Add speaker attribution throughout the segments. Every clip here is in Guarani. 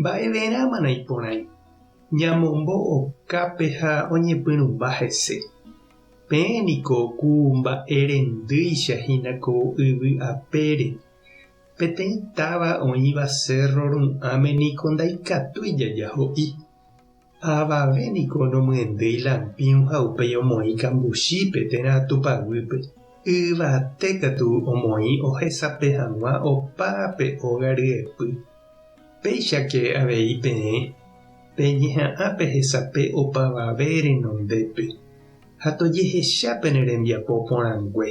Speaker 1: Mba'everãmana iporãi ñamombo okápe ha oñepyrũmba hese? Peẽ niko ku mba'e rendýicha hína ko yvy apére. Peteĩ táva oĩva cérro ru'ãme niko ndaikatúi jaja ho'i. Avave niko nomyendéi lampĩu ha upéi omoĩ kambuchípe térã Tupã guýpe. Yvate katu omoĩ ohesape hag̃ua opa pe óga ryepy. Péichake avei peẽ peñeha'ã pehesape opavave renondépe ha tojehecha pene rembiapo porãngue.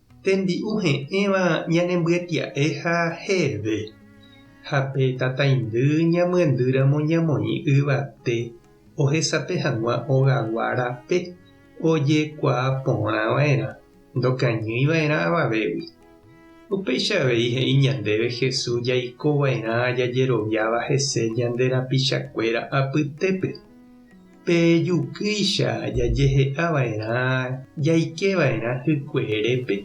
Speaker 1: Tembi'u he'ẽva ñanembyetya'e ha heve, ha pe tataindy ñamyendýramo ñamoĩ yvate ohesape hag̃ua ogagua rape ojekuaa porã va'erã, ndokañýi va'erã avavégui. Upéicha avei he'i ñandéve Jesús jaiko va'erã jajeroviáva hese ñande rapichakuéra apytépe. Pe jukýicha jajehe'a va'erã jaike va'erã hykueerépe,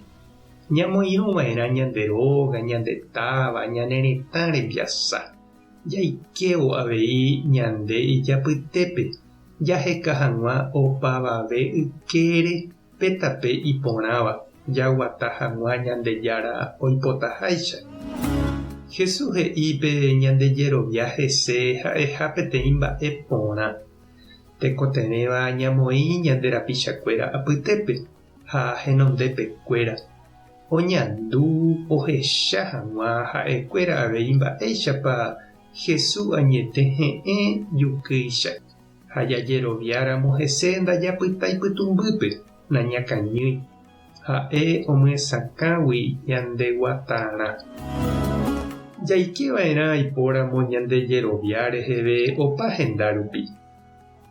Speaker 1: ñamoirũ va'erã ñande róga, ñande táva, ñane retã rembiasa, jaikévo avei ñande ijapytépe jaheka hag̃ua opavave ykére Pe tape iporãva jaguata hag̃ua Ñandejára oipotaháicha. Jesús he'i pe ñande jerovia hese ha'eha peteĩ mba'e porã. Tekotevẽva ñamoĩ ñande rapichakuéra apytépe ha henondepekuéra, oñandu ohecha hag̃ua ha'ekuéra avei mba'éichapa Jesús añete he'ẽ jukýicha. ha jajeroviáramo hese ndajapyta ipytũmbýpe, nañakañýi. Ha'e omyesakãgui ñande guatarã. Jaike va'erã aipóramo ñande jerovia reheve opa henda rupi.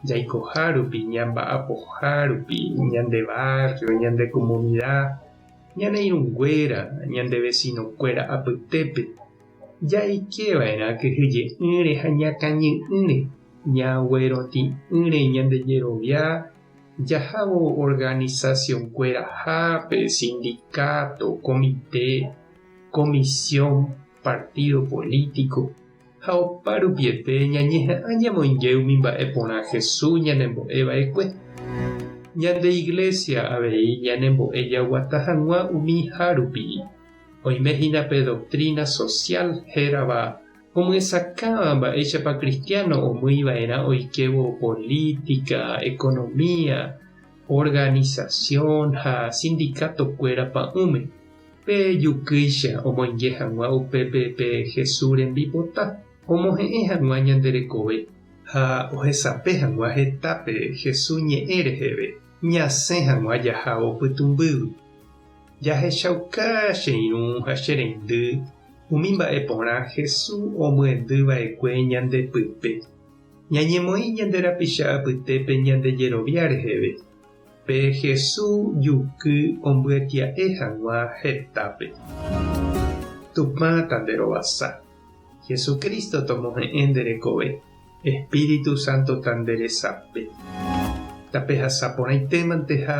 Speaker 1: Jaikoha rupi, ñamba'apoha rupi, ñande barrio, ñande comunidad, ñane irũnguéra, ñande vecino-kuéra apytépe. Jaike va'erã kyhyje'ỹre ha ñakãñy'ỹre, ñagueroti'ỹre ñande jerovia jahávo organizacionkuerahápe, sindicato, komite, comisión, partido político, ha oparupiete ñañeha'ã ñamoinge umi mba'e porã Jesús ñanembo'e va'ekue. Ñande Iglesia avei ñanembo'e jaguata hag̃ua umi hárupi. Oime hína pe doktrína sosiál hérava omyesakãva mba'éichapa kristiáno omýi va'erã oikévo polítika, ekonomia, organisasión ha sindikátokuéra pa'ũme. Pe jukýicha omoinge hag̃ua upépe pe Jesús rembipota, omohe'ẽ hag̃ua ñande rekove, ha ohesape hag̃ua heta pe Jesús ñe'ẽ reheve, ñasẽ hag̃ua jahávo pytũmbýgui. Jahechauka che irũ ha che reindy umi mba'e porã Hesu omyendy vaekue ñande pype. Ñañemoĩ ñande rapicha apytépe ñande jerovia reheve, pe Hesu juky ombyatia'e hag̃ua hetápe. Tupã tanderovasa. Jesucristo tomohe'ẽ nde rekove. Espíritu Santo tanderesape. Tapehasa porãitémanteha.